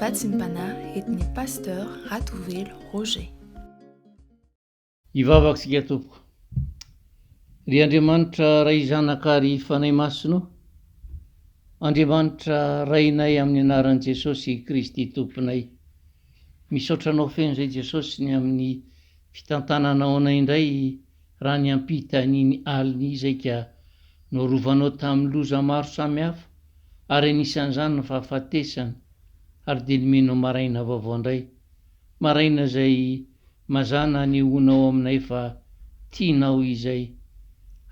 Vatsimpanahy et ny Pasteur Ratovelo Roger. Hivavaka isika tompoko. Ry Andriamanitra Ray Zanaka ary Fanahy Masina o! Andriamanitra Rainay amin'ny anaran'i Jesosy Kristy Tomponay. Misaotra Anao feno izay Jesosy ny amin'ny fitantananao anay indray Raha niampita an'iny alina izay ka norovanao tamin'ny loza maro samihafa ary anisan'izany ny fahafatesana ary dia nomenao maraina vaovao indray, maraina izay mazàna hanehoana ao aminay fa tianao izay.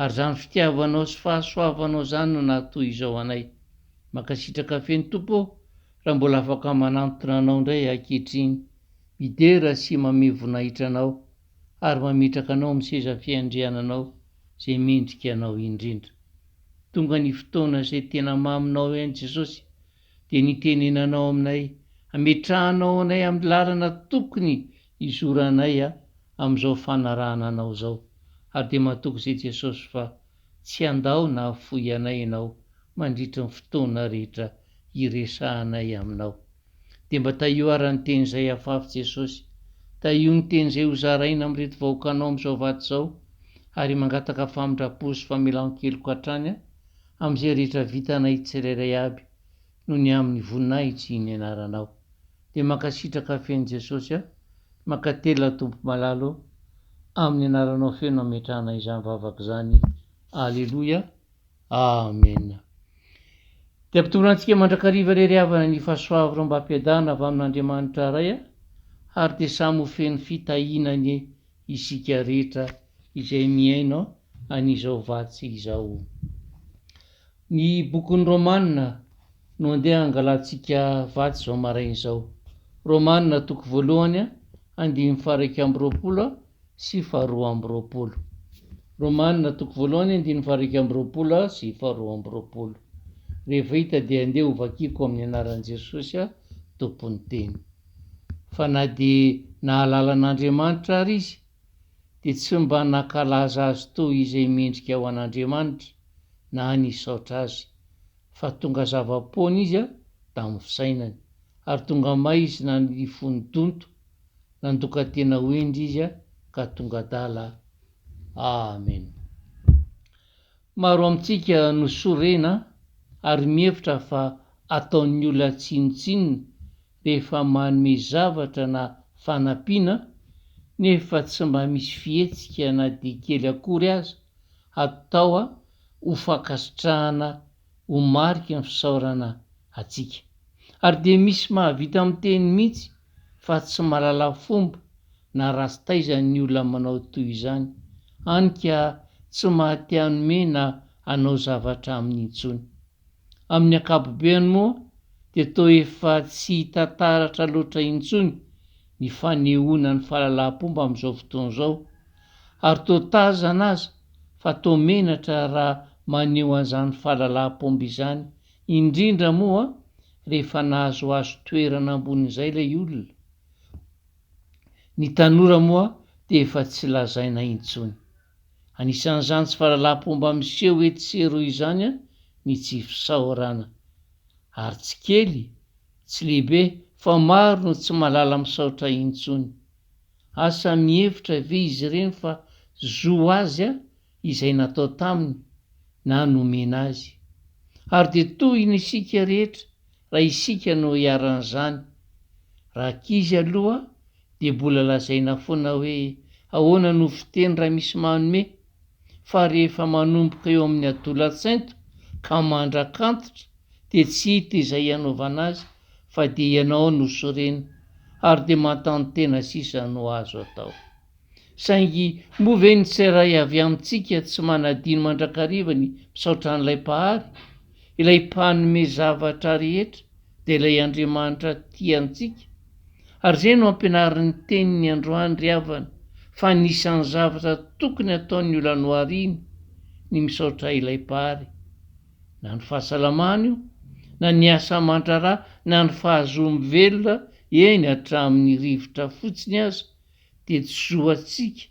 Ary izany fitiavanao sy fahasoavanao izany no nahatoy izao anay. Mankasitraka feno Tompo ô raha mbola afaka manantona Anao indray ankehitriny. Midera sy mamey voninahitra Anao ary mametraka anao amin'ny seza fiandriananao izay mendrika anao indrindra. Tonga ny fotoana izay tena maminao ihany Jesosy dia ny itenenanao aminay, ametrahanao anay amin'ny lalana tokony hizoranay amin'izao fanarahana anao izao, ary dia matoky izay Jesosy fa tsy handao na hafoy anay ianao mandritra ny fotoana rehetra hiresahanay aminao. Dia mba tahio ara ny teny izay afafy Jesosy. Tahio ny teny izay hozaraina amin'ireto vahoakanao amin'izao vato izao, ary mangataka famindra-po sy famelan-keloka hatrany amin'izay rehetra vitanay tsirairay aby noho ny amin'ny voninahitry ny anaranao. Dia mankasitraka feno Jesosy aho, mankatelina Tompo malala ô, amin'ny anaranao feno ametrahana izany vavaka izany. Aleloia. Amena. Dia ampitory antsika mandrakariva irery havana ny fahasoavromba-piadanana avy amin'Andriamanitra Ray a, ary dia samy ho feno fitahiana anie isika rehetra izay mihaino an'izao vatsy izao. Ny bokin'ny Romana no andeha hangalantsika vatsy izao maraina izao. Romana toko voalohany a, andininy faha iraika amby roapolo a, sy faharoa amby roapolo. Romana, toko voalohany andininy fahairika amby roapolo sy faharoa amby roapolo. Rehefa hita dia andeha ho vakiako amin'ny anaran'i Jesosy Tompon'ny teny. Fa na dia nahalala an'Andriamanitra ary izy dia tsy mba nankalaza azy toy izay mendrika ho an'Andriamanitra na nisaotra azy, fa tonga zava-poana izy tamin'ny fisainany, ary tonga may izy na ny fony donto. Nandoka tena ho hendry izy ka tonga adala Amen. Maro amintsika no sorena ary mihevitra fa ataon'ny olona tsinontsinona rehefa manome zavatra na fanampiana nefa tsy mba misy fihetsika na dia kely akory aza atao ho fankasitrahana ho mariky ny fisaorana antsika. Ary dia misy mahavita miteny mihitsy fa tsy mahalala fomba na raha tsy taiza ny olona manao toy izany, any ka tsy mahate hanome na hanao zavatra aminy intsony. Amin'ny ankapobeany moa dia toa efa tsy hita taratra loatra intsony ny fanehoana ny fahalalaham-pomba amin'izao fotoana izao, ary toa tazana aza fa toa menatra raha maneho an'izany fahalalaham-pomba izany, indrindra moa rehefa nahazoazo toerana ambonin'izay ilay olona. Ny tanora moa dia efa tsy lazaina intsony. Anisan'izany tsy fahalalam-pomba miseho etsy sy eroa izany ny tsy fisaorana. Ary tsy kely, tsy lehibe fa maro no tsy mahalala misaotra intsony. Asa mihevitra ve izy ireny fa zo azy izay natao taminy na nomena azy? Ary dia tohina isika rehetra raha isika no iharan'izany. Rankizy aloha dia bola lazaina foana hoe ahoana no fiteny raha misy manome fa rehefa manomboka eo amin'ny adolatsainto ka mandrak'antitra dia tsy hita izay hanaovana azy fa dia ianao no sorena ary dia mantano-tena sisa no azo atao. Saingy moa ve ny tseiray avy amintsika tsy manadino mandrakariva ny misaotra an'ilay Mpahary, ilay mpanome zavatra rehetra dia ilay Andriamanitra tia antsika? Ary izay no ampianarin'ny teniny androany ry havana fa anisan'ny zavatra tokony ataon'io lanoary iny ny misaotra ilay Mpahary na ny fahasalamana io na ny asa aman-draharaha na ny fahazoa-mivelona eny hatramin'ny rivotra fotsiny aza dia tsy zo antsika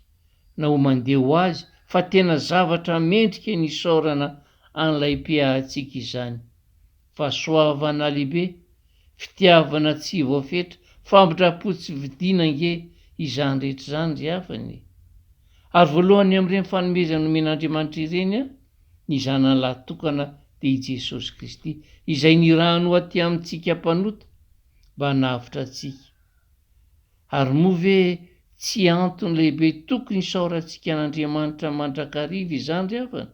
na ho mandeha ho azy fa tena zavatra mendrika ny isaorana an'ilay Mpiahatsika izany Fahasoavana lehibe, fitiavana tsy voafetra, famindram-po tsy vidiana ange izany rehetra izany ry havana e! Ary voalohany amin'ireny fanomezana nomen'Andriamanitra ireny an, ny Zanany lahatokana dia i Jesosy Kristy izay nirahany ho aty amintsika mpanota mba hanavotra antsika. Ary moa ve tsy antony lehibe tokony hisaorantsika an'Andriamanitra mandrakariva izany ry havana?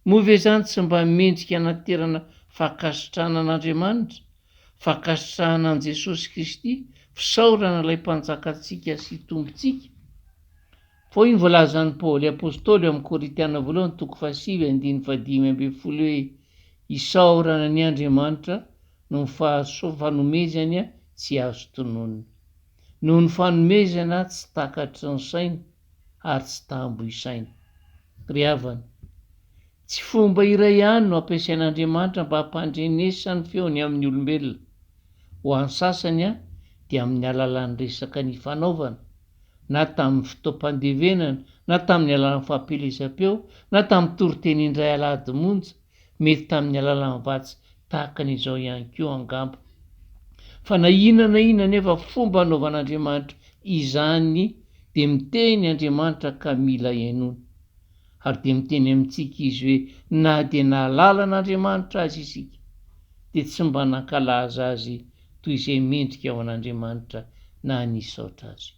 Moa ve izany tsy mba mendrika hanaterana fankasitrahana an'Andriamanitra, fankasitrahana an'i Jesosy Kristy, fisaorana ilay Mpanjakantsika sy Tompontsika? Pao iny voalazan'i Paoly Apostoly ao amin'ny Korintiana Voalohany toko fahasivy andininy fahadimy ambin'ny folo hoe, Isaorana ny Andriamanitra noho ny fanomezany tsy azo tononina, noho ny fanomezana tsy takatry ny saina ary tsy tambo isaina. Ry havana, tsy fomba iray ihany no ampiasain'Andriamanitra mba hampandrenesany ny feony amin'ny olombelona. Ho an'ny sasany dia amin'ny alalan'ny resaka nifanaovana, na tamin'ny fotoam-pandevenana, na tamin'ny alalan'ny fampielezam-peo, na tamin'ny toriteny indray alahady monja, Mety tamin'ny alalan'ny vatsy tahaka ny izao ihany koa angamba. Fa na inona na inona anefa fomba anaovan'Andriamanitra izany dia miteny Andriamanitra ka mila henony. Ary dia miteny amintsika Izy hoe na dia nahalala an'Andriamanitra aza isika dia tsy mba nankalaza Azy toy izay mendrika ho an'Andriamanitra na nisaotra Azy.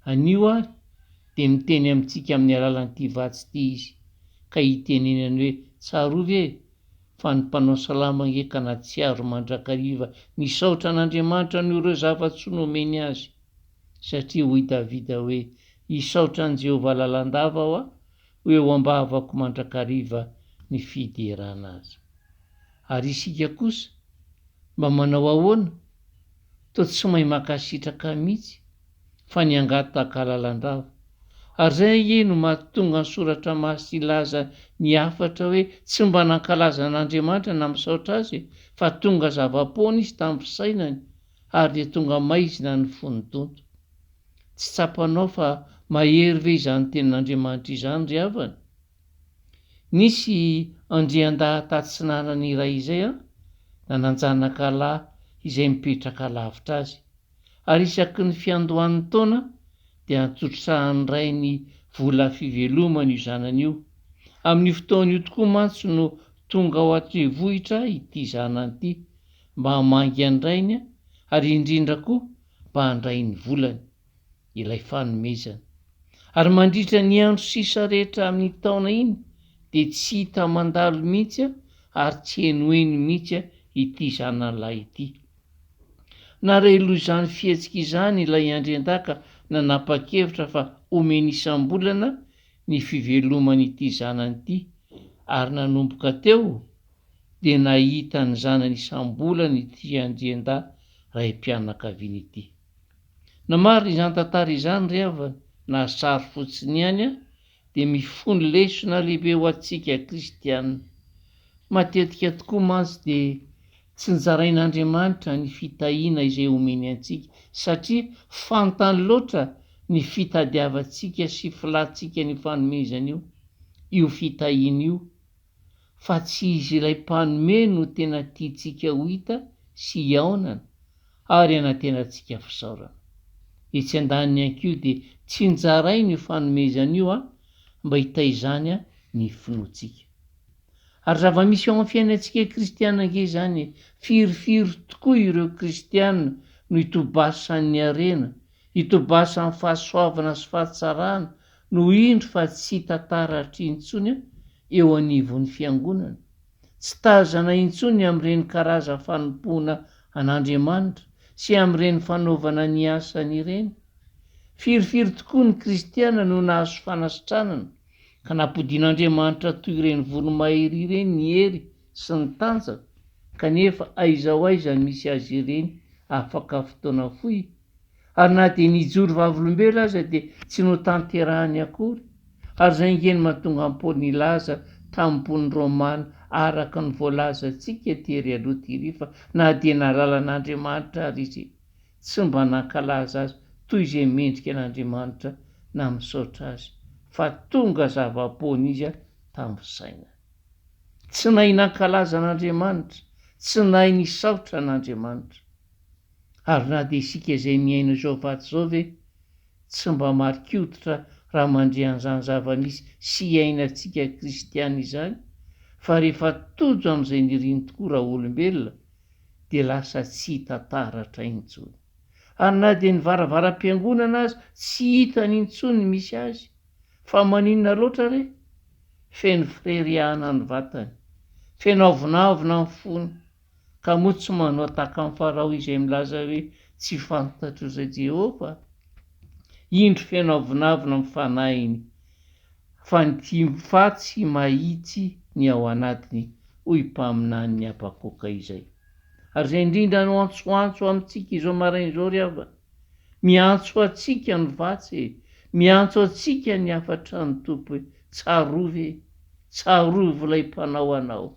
Anio ary dia miteny amintsika amin'ny alalan'ity vatsy ity izy ka hitenenany hoe tsarovy e! fa ny mpanao salamo ange ka natsiaro mandrakariva nisaotra an'Andriamanitra noho ireo zava-tsoa nomeny azy. Satria hoy Davida hoe hisaotra an'i Jehovah lalandava aho a! ho eo am-bavako mandrakariva ny fiderana azy. Ary isika kosa? Mba manao ahoana? Toa tsy mahay mankasitraka mihitsy fa ny hangataka lalandava. Ary izay ange no mahatonga ny Soratra Masina hilaza ny hafatra hoe tsy mba nankalaza an'Andriamanitra na misaotra Azy fa tonga zava-poana Izy tamin'ny fisainany ary dia tonga maizina ny fon'ny donto. Tsy tsapanao fa mahery ve izany tenin'Andriamanitra izany ry havana? Nisy andriandahy tatsinanana iray izay an, nananjanaka lahy izay mipetraka lavitra azy. ary isaky ny fiandohan'ny taona dia antsotrisahany ray ny vola fivelomany io zanany io. Amin'io fotoana io tokoa mantsy no tonga ao an-trevohitra ity zanany ity mba hamangy an-drainy ary indrindra koa mba handray ny volany, ilay fanomezana. Ary mandritra ny andro sisa rehetra amin'ny taona iny dia tsy hita mandalo mihitsy ary tsy henoheno mihitsy ity zanany lahy ity. Nareloha izany fihetsika izany ilay Andriandaka nanapa-kevitra fa omeny isam-bolana ny fiveloman'ity zanany ity ary nanomboka teo dia nahita ny zanany isam-bolana ity Andriandahy raim-pianakaviana ity. Namarina izany tantara izany ry havana na sary fotsiny ihany aho dia mifono lesona lehibe ho antsika kristiana. Matetika tokoa mantsy dia Tsy nozarain'Andriamanitra ny fitahiana izay omeny antsika, satria fantany loatra ny fitadiavantsika sy filantsika an'io fanomezana io, io fitahiana io, fa tsy izy ilay Mpanome no tena tiantsika ho hita sy hihaonana ary anantenantsika fisaorana. Etsy andaniny ihany koa dia tsinjarainy io fanomezana io mba hitaizany ny finoantsika. Ary zava-misy eo amin'ny fiainantsika kristiana ange izany e! Firifiry tokoa ireo kristiana no itobasan'ny harena, itobasan'ny fahasoavana sy fahatsarana no indro fa tsy hita taratra intsony eo anivon'ny Fiangonana? Tsy tazana intsony amin'ireny karazan'ny fanompoana an'Andriamanitra sy amin'ireny fanaovana ny asany ireny? Firifiry tokoa ny kristiana no nahazo fanasitranana ka nampodian'Andriamanitra toy ireny voromahery ireny ny hery sy ny tanjany, kanefa aiza ho aiza misy azy ireny afaka fotoana fohy? Ary na dia nijoro vavolombelona aza dia tsy notanterahany akory, ary izay ange no mahatonga an'i Paoly nilaza tamin'ny mponin'i Romana araka ny voalazantsika tery aloha tery fa na dia nalalan'Andriamanitra ary izy tsy mba nankalaza azy toy izay mendrika an'Andriamanitra na misaotra azy, fa tonga zava-poana izy tamin'ny fisainany. Tsy nahay nankalaza an'Andriamanitra, tsy nahay nisaotra an'Andriamanitra. Ary na dia isika izay mihaino izao vatsy izao ve tsy mba marin-koditra raha mandre an'izany zava-misy sy iainantsika kristiana izany, fa rehefa tojo amin'izay niriny tokoa raha olombelona, dia lasa tsy hita taratra intsony. Ary na dia ny varavaram-piangonana aza tsy hitany intsony ny misy azy. Fa maninona loatra re? Feno fireriahana ny vatany, feno avonavona ny fony, ka moa tsy manao tahaka an'i Farao izay milaza hoe, Tsy fantatro izay Jehovah? Indro feno avonavona ny fanahiny, fa ny tim-patsy mahitsy ny ao anatiny. hoy mpaminanin'i Habakoka izay. Ary izay indrindra no antsoantso amintsika izao maraina izao ry havana, miantso antsika ny vatsy e, miantso antsika ny hafatran' ny Tompo hoe, Tsarovy e, tsarovy ilay mpanao anao.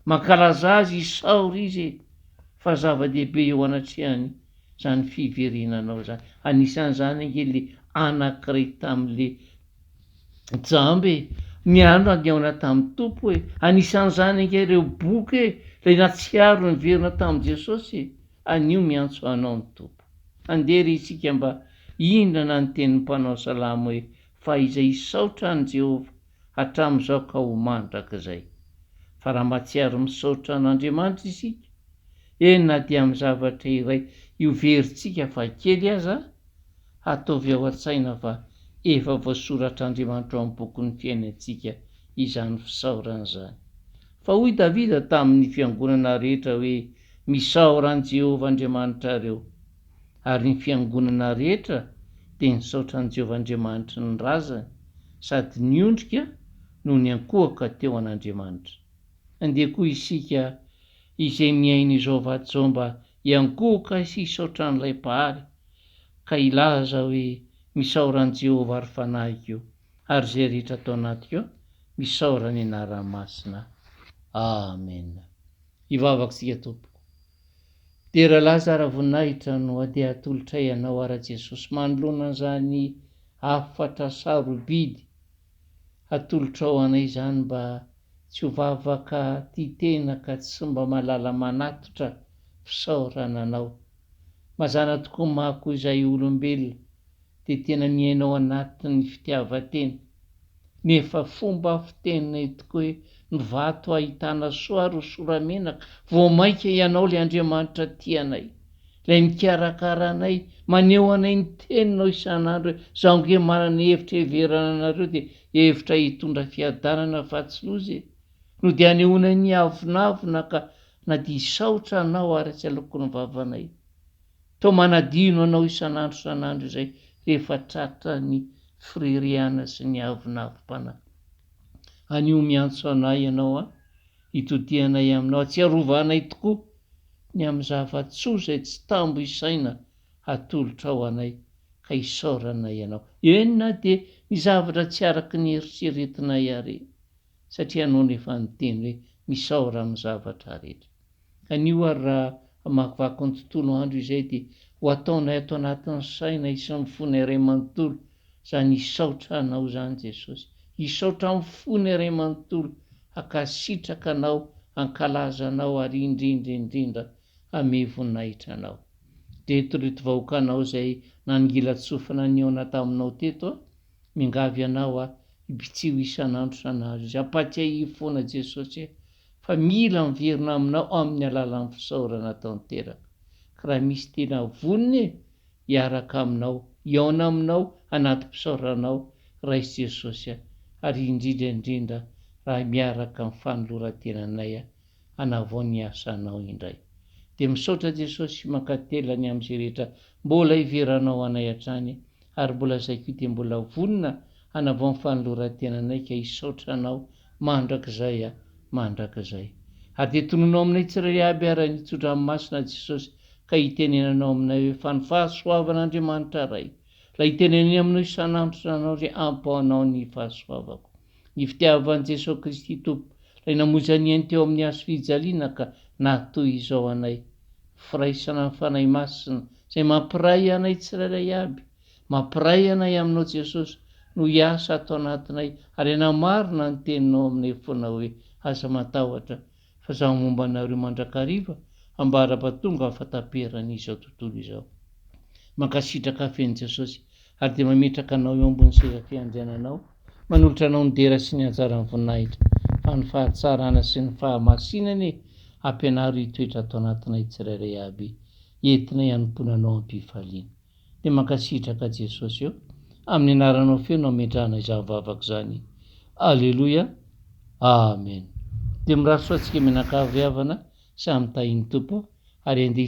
Mankalaza Azy, isaory Izy e, fa zava-dehibe eo anatrehany izany fiverenanao izany. Anisan'izany ange le anankiray tamin'le Jamba e! Ny andro andiaona tamin'ny Tompo e! Anisan'izany ange ireo boky e! Ilay nahatsiaro niverina tamin'i Jesosy e! Anio miantso anao ny Tompo. Andeha re isika mba hihindrana ny tenin'ny mpanao salamo hoe, Fahizay hisaotra an'i Jehovah hatramin'izao ka ho mandrakizay. Fa raha mahatsiaro misaotra an'Andriamanitra isika, eny na dia amin'ny zavatra iray io verintsika faha kely aza, Hataovy ao an-tsaina fa efa voasoratr'Andriamanitra ao amin'ny bokin'ny fiainantsika izany fisaorana izany. Fa hoy Davida tamin'ny fiangonana rehetra hoe, Misaora an'i Jehovah Andriamanitrareo. Ary ny fiangonana rehetra dia nisaotra an'i Jehovah Andriamanitry ny razany, sady niondrika no niankohoka teo an'Andriamanitra. Andeha koa isika izay miaina izao vatosoa mba Hiankohoka sy hisaotra an'ilay Mpahary, ka hilaza hoe, Misaora an'i Jehovah ry fanahiko, ary izay rehetra ato anatiko an, misaora ny anarany masina. Amena. Hivavaka isika, Tompoko. Dera Laza ara-voninahitra no handeha hatolotray Anao ara-Jesosy manoloana an'izany hafatra sarobidy hatolotrao anay izany mba tsy ho vavaka tia tena ka tsy mba malala manatitra fisaorana anao. Mazana tokoa mako izay olombelona dia tena miaina ao anatin'ny fitiavan-tena. Nefa fomba fiteninay tokoa hoe ny vato ahitana soa ary ho soramenaka vao mainka ianao ilay Andriamanitra tia anay. Ilay mikarakara anay, maneho anay ny Teninao isan'andro hoe, Izaho ange manana hevitra hiheverana anareo dia hevitra hitondra fiadanana fa tsy loza e! no dia anehoanay ny avonavona ka na dia hisaotra Anao ary tsy aloky ny vavanay. Toa manadino Anao isan'andro isan'andro izay rehefa tratra ny fireriana sy ny avonavom-panahy. Anio miantso anay Ianao an! Itodihanay aminao, atsiarovanay tokoa ny amin'ny zava-tsoa izay tsy tambo isaina hatolotrao anay, ka isaoranay Ianao, eny na dia ny zavatra tsy araka ny eritreretinay àry, satria Ianao no efa niteny hoe, Misaora amin'ny zavatra rehetra. Anio àry raha hamakivaky ny tontolo andro izay dia ho ataonay ato anatin'ny sainay sy ny fonay iray manontolo, Zany hisaotra anao zany Jesosy hisaotra am fony ray manontolo hakasitraka anao hankalaza anao ary indrindra indrindra hame voninahitra anao dreto reto vahokanao zay nanongilatsofina nihaona taminao teto a mingavy anao a hibitsiho isanandro sanadro izy ampatsiahivo fona Jesosy e fa mila miverina aminao aminy alalan fisaorana tanteraka ka raha misy tena vonona e hiaraka Aminao, hihaona Aminao anaty fisaoranao, Ray Jesosy a, ary indrindra indrindra raha miaraka amin'ny fanoloran-tenanay hanavao ny asanao indray. Dia misaotra Jesosy sy mankatelina ny amin'izay rehetra mbola iveranao anay hatrany, ary mbola zay koa dia mbola vonona hanavao ny fanoloran-tenanay ka hisaotra Anao mandrakizay a! mandrakizay! Hadintononao aminay tsirairay aby ara ny tso-dranomasina Jesosy ka hitenenanao aminay hoe fa ny fahasoavan' Andriamanitra Ray lay hitenenany aminao isan'andro Ranao ry Ampo anao ny fahasoavako ny fitiavan' Jesosy Kristy Tompo lay namonjy an' iany teo amin'ny hazo fijaliana ka naha toy izao anay ny firaisana ny Fanahy Masina izay mampiray anay tsirairay aby Mampiray anay Aminao Jesosy no hiasa ato anatinay ary hanamarina ny Teninao aminay foana hoe, Aza matahotra, fa Izaho momba anareo mandrakariva ambara-ba tonga amin'ny fahataperan' izao tontolo izao. Mankasitraka feno Jesosy ary dia mametraka anao eo ambony seza fiandriananao, manolotra anao ny dera sy ny anjaran'ny voninahitra, fa ny fahatsarana sy ny fahamasinana e, ampianaro hitoetra ato anatinay tsirairay aby, entinay hanompoana Anao am-pifaliana. dia mankasitraka Jesosy eo amin'ny anaranao feno hametrahana izany vavaka izany Aleloia Amen dia mirary soa antsika mianakavy havana samy tahin'ny Tompo ary andeha